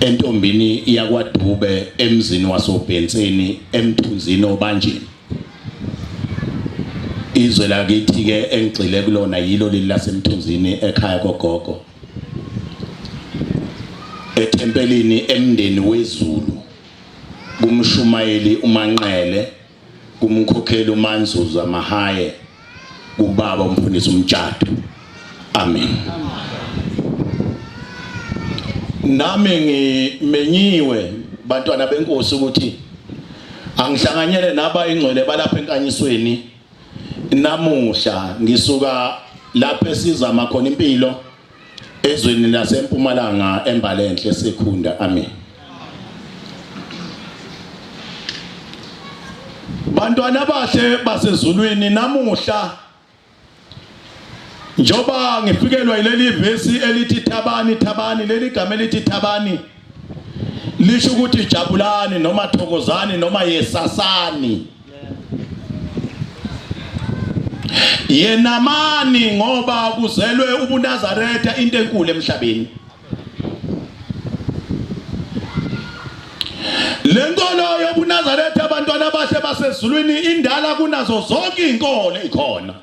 entombini yakwaDube emzini wasoBhenseni emthunzini obanjini izwe lakithi ke engigxile kulona yilo leli lasemthunzini ekhaya kogogo ethempelini emndeni wezulu kumshumayeli umanqele kumkhokheli uManzuza Mahaye kubaba umfundisi umtshado amen nami ngimenyiwe bantwana benkosi ukuthi angihlanganyele naba ingcwele balapha enkanyisweni namuhla ngisuka lapho esizama khona impilo ezweni lasempumalanga embalenhle sekhunda amen bantwana bahle basezulwini namuhla njoba ngifikelwa yileli vesi elithi thabani thabani leli gama elithi thabani lisho ukuthi jabulani noma thokozani noma yesasani yenamani ngoba kuzelwe ubunazaretha into enkulu emhlabeni lenkolo yobunazaretha abantwana bahle basezulwini indala kunazo zonke izinkolo ikhona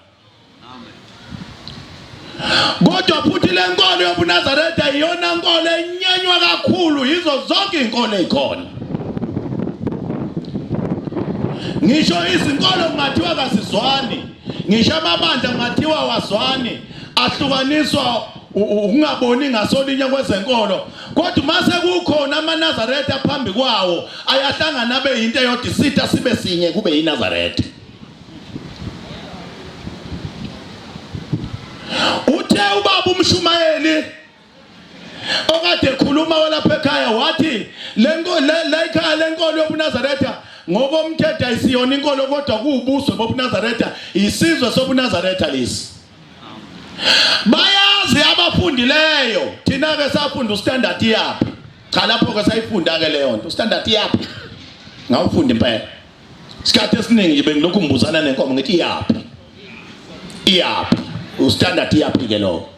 Kodwa futhi le nkolo yobuNazaretha iyona nkolo enyanywa kakhulu yizo zonke izinkolo ezikhona. Ngisho izinkolo kungathiwa kasizwani, ngisho amabandla kungathiwa wazwani, ahlukaniswa ukungaboni ngasolinye kwezenkolo kodwa uma sekukhona amanazaretha phambi kwawo ayahlangana abe yinto eyodwa isitha sibe sinye kube yinazaretha Uthe ubaba umshumayeli okade ekhuluma walapha ekhaya wathi lekhaya lenkolo yobunazaretha ngokomthetho ayisiyona inkolo kodwa kuwubuso bobunazaretha isizwe sobunazaretha lesi bayazi abafundileyo thina-ke safunda ustandard yaphi cha lapho-ke sayifunda-ke leyo nto ustandard yaphi ngawufunda impela Isikhathi esiningi nje bengilokhu ngibuzana nenkomo ngithi iyaphi? Iyaphi? Ustandard iyaphi ke lowo?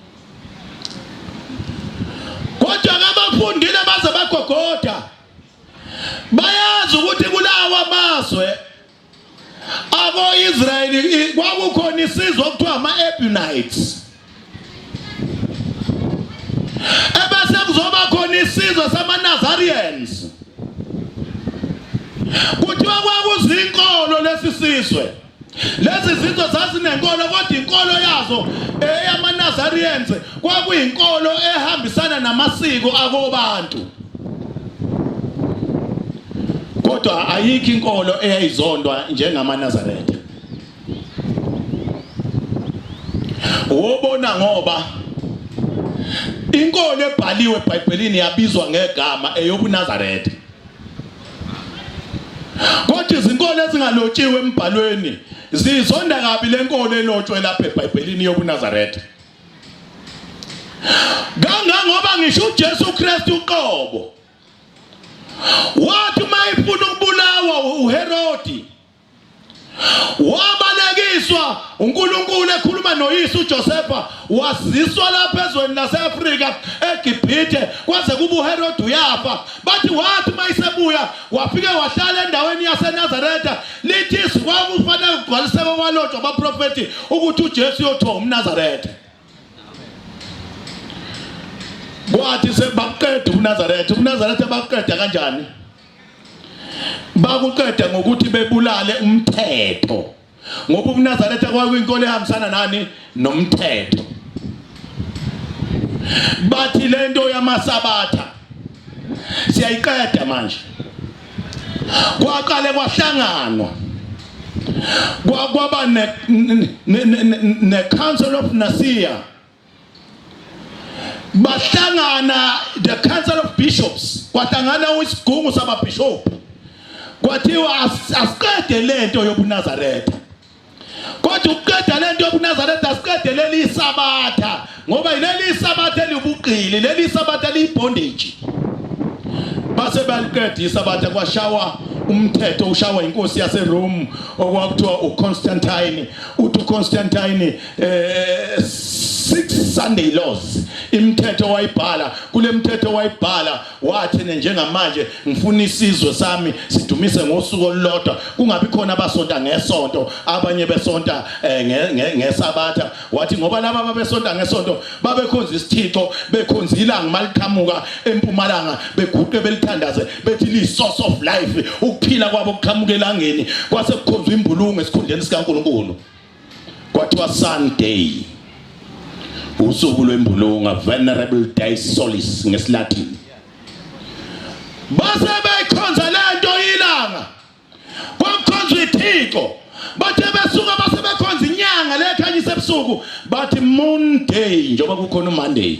Kodwa ngabafundile baze bagogoda. Bayazi ukuthi kulawa mazwe abo-Israyeli kwakukhona isizwe okuthiwa ama-Ebunites ebese kuzoba khona isizwe samaNazarians kuthiwa kwakuzinkolo lesi sizwe lezi zinto zazinenkolo kodwa inkolo yazo eyamaNazarians kwakuyinkolo ehambisana namasiko akobantu kodwa ayikho inkolo eyayizondwa njengamaNazaretha wobona ngoba inkolo ebhaliwe eBhayibhelini yabizwa ngegama eyobuNazaretha kodwa izinkolo ezingalotshiwe embhalweni zizonda kabi lenkolo elotshwe lapha eBhayibhelini yobuNazaretha kangangoba ngisho uJesu Kristu uqobo wathi uma efuna ukubulawa uHerodi wabalekiswa uNkulunkulu ekhuluma noyise uJosefa waziswa lapha ezweni laseAfrika eGibhithe kwaze kuba uHerode uyafa bathi wathi uma isebuya wafike wahlala endaweni yaseNazaretha lithi izwi kwakufanele kugcwaliseke kwalotshwa abaprofethi ukuthi uJesu uyothiwa umNazaretha kwathi sebakuqeda uNazaretha uNazaretha bakuqeda kanjani bakuqeda ngokuthi bebulale umthetho ngoba ubunazaretha kwakuyinkolo ehambisana nani nomthetho bathi lento yamasabatha siyayiqeda manje kwaqale kwahlanganwa kwakwaba ne council of Nicaea bahlangana the council of bishops kwahlangana isigungu sababhishophu kwathiwa asiqede lento yobunazaretha kodwa ukuqeda lento yobunazaretha asiqede leli isabatha ngoba yileli isabatha eliwubuqili leli isabatha liyibondage base baliqeda isabatha kwashawa umthetho ushawa inkosi yaseRome okwakuthiwa uConstantine uthi uConstantine eh six sunday laws imithetho wayibhala kule mthetho wayibhala wathi njengamanje ngifuna isizwe sami sidumise ngosuku olulodwa kungabi khona abasonta ngesonto abanye besonta eh, ngesabatha wathi ngoba laba babesonta ngesonto babekhonza isithixo bekhonza ilanga maliqhamuka empumalanga beguqe belithandaze bethi li source of life ukuphila kwabo kuqhamuka elangeni kwase kukhonzwa imbulungu esikhundleni sikaNkuluNkulu Kwathiwa Sunday usuku lwembulunga venerable day solis ngesilatin base beyikhonza lento ilanga kwakukhonzwa ithixo bathe besuka base bekhonza inyanga lekhanyisa ebusuku bathi moon day njengoba kukhona umonday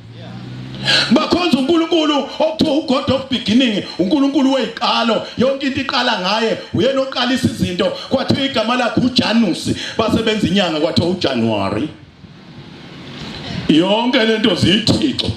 bakhonza uNkulunkulu okuthiwa uGod of beginning uNkulunkulu weziqalo yonke into iqala ngaye uyena oqalisa izinto kwathiwa igama lakhe uJanus basebenza inyanga kwathiwa uJanuary yonke lento zithixo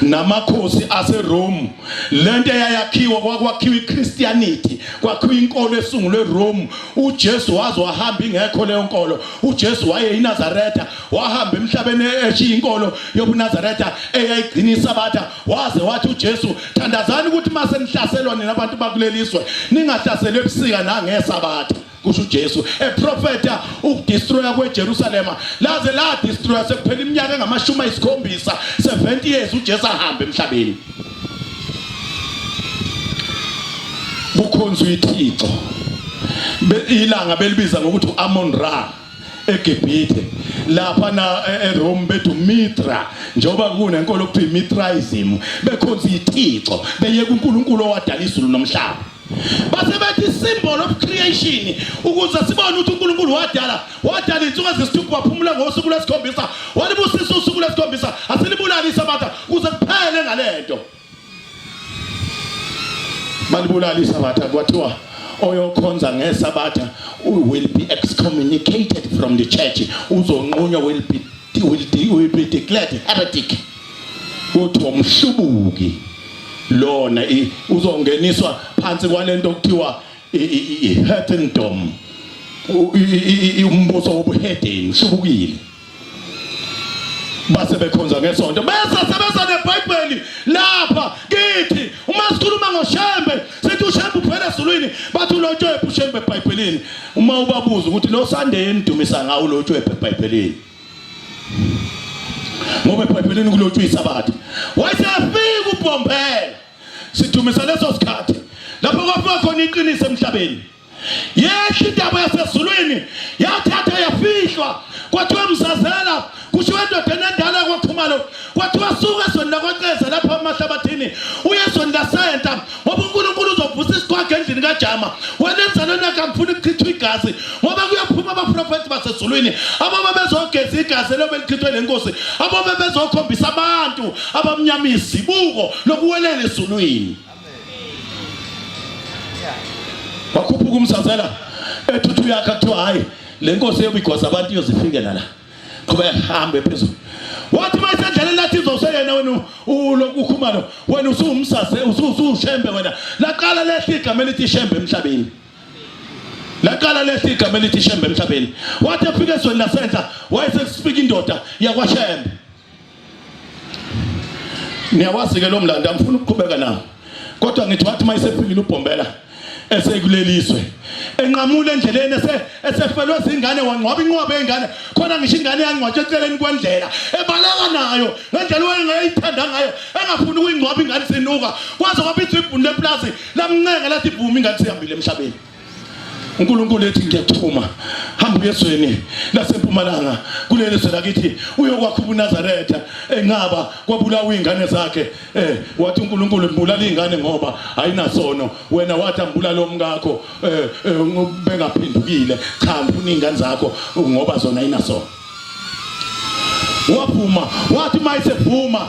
namakhosi aseRome lento eyayakhiwa kwakwakhiwa iChristianity kwakhiwa inkolo esungulwe eRome uJesu waze wahamba ingekho leyo nkolo uJesu waye eNazaretha wahamba emhlabeni eshiya inkolo yobunazaretha eyayigcina isabatha waze wathi ujesu thandazani ukuthi uma senihlaselwa nina abantu bakuleli zwe ningahlaselwa ebusika nangesabatha kusho uJesu eprofeta ukudestroya kweJerusalema laze la destroya sekuphela iminyaka engamashumi ayisikhombisa 70 years uJesu ahamba emhlabeni kukhonzwa ithixo ilanga belibiza ngokuthi uAmon Ra eGibhithe lapha na e-, eRome bethu Mithra njengoba kunenkolo kuthiwa iMithraism bekhonza ithixo beyeka uNkulunkulu owadala izulu nomhlaba base bethi isymbol of creation ukuze sibone ukuthi uNkulunkulu wadala wadala insuku ezisithupha waphumula ngosuku lwesikhombisa walibusisa usuku lwesikhombisa asilibulali isabatha kuze kuphele ngalento malibulala isabatha kwathiwa oyokhonza ngesabatha will be excommunicated from the church uzonqunywa will be will, de, will be declared heretic kuthiwa umhlubuki lona uzongeniswa phansi kwalento okuthiwa i-heathendom umbuso wobuhedeni uhlubukile base bekhonza ngesonto bese sebeza nebhayibheli lapha kithi uma sikhuluma ngoshembe sithi ushembe uphela ezulwini bathi ulotshwephe ushembe ebhayibhelini uma ubabuza ukuthi lo sandeye nidumisa ngawo ulotshwephe ebhayibhelini ngoba ebhayibhelini kulotshwa isabatha wayesefika ubhombela sidumisa leso sikhathi lapho kwafika khona iqiniso emhlabeni Yehla intaba yasezulwini yathatha yafihlwa kwathiwa msazela kushiwo endodeni endala kwakhumalo kwathiwa suka ezweni lakwaceza lapha emahlabathini uye ezweni lasenta ngoba unkulunkulu uzovusa isiqwaga endlini kajama wena enzalweni yakhe angifuni ukuchithwa igazi ngoba kuyophuma abaprofethi basezulwini ababa bezogeza igazi elobe lichithwe lenkosi ababa bezokhombisa abantu abamnyama izibuko lokuwelela ezulwini wakhuphuka umsazela ethuthi uyakha kuthiwa hhayi le nkosi eyobigosa abantu iyozifikela la qhubeka hambe phezulu wathi uma isendleleni lathi izoseyena wena ulokhu ukhumalo wena usuwumsase usuwushembe wena laqala lehla igama elithi ishembe emhlabeni laqala lehla igama elithi ishembe emhlabeni wathi efika ezweni lasenhla wayesekusiphika indoda yakwashembe niyawazi ke lo mlando angifuni ukuqhubeka nawo kodwa ngithi wathi uma esefikile ubhombela esekuleliswe enqamule endleleni esefelwe zingane wangcwaba inqwaba yengane khona ngisho ingane yangcwatshwa eceleni kwendlela ebaleka nayo ngendlela wayengayithanda ngayo engafuni ukuyingcwaba ingane sinuka kwaze kwabizwa ibhuni leplazi lamncenga lathi vuma ingane sihambile emhlabeni uNkulunkulu ethi ngiyakuthuma hamba uyezweni lasempumalanga kuleli zwe lakithi uyokwakha ubunazaretha enqaba kwabulawa iy'ngane zakhe eh wathi uNkulunkulu mbulala iy'ngane ngoba ayinasono wena wathi ambulala omkakho eh, eh bengaphendukile cha ngifuna iy'ngane zakho ngoba zona ayinasono waphuma wathi mayisevuma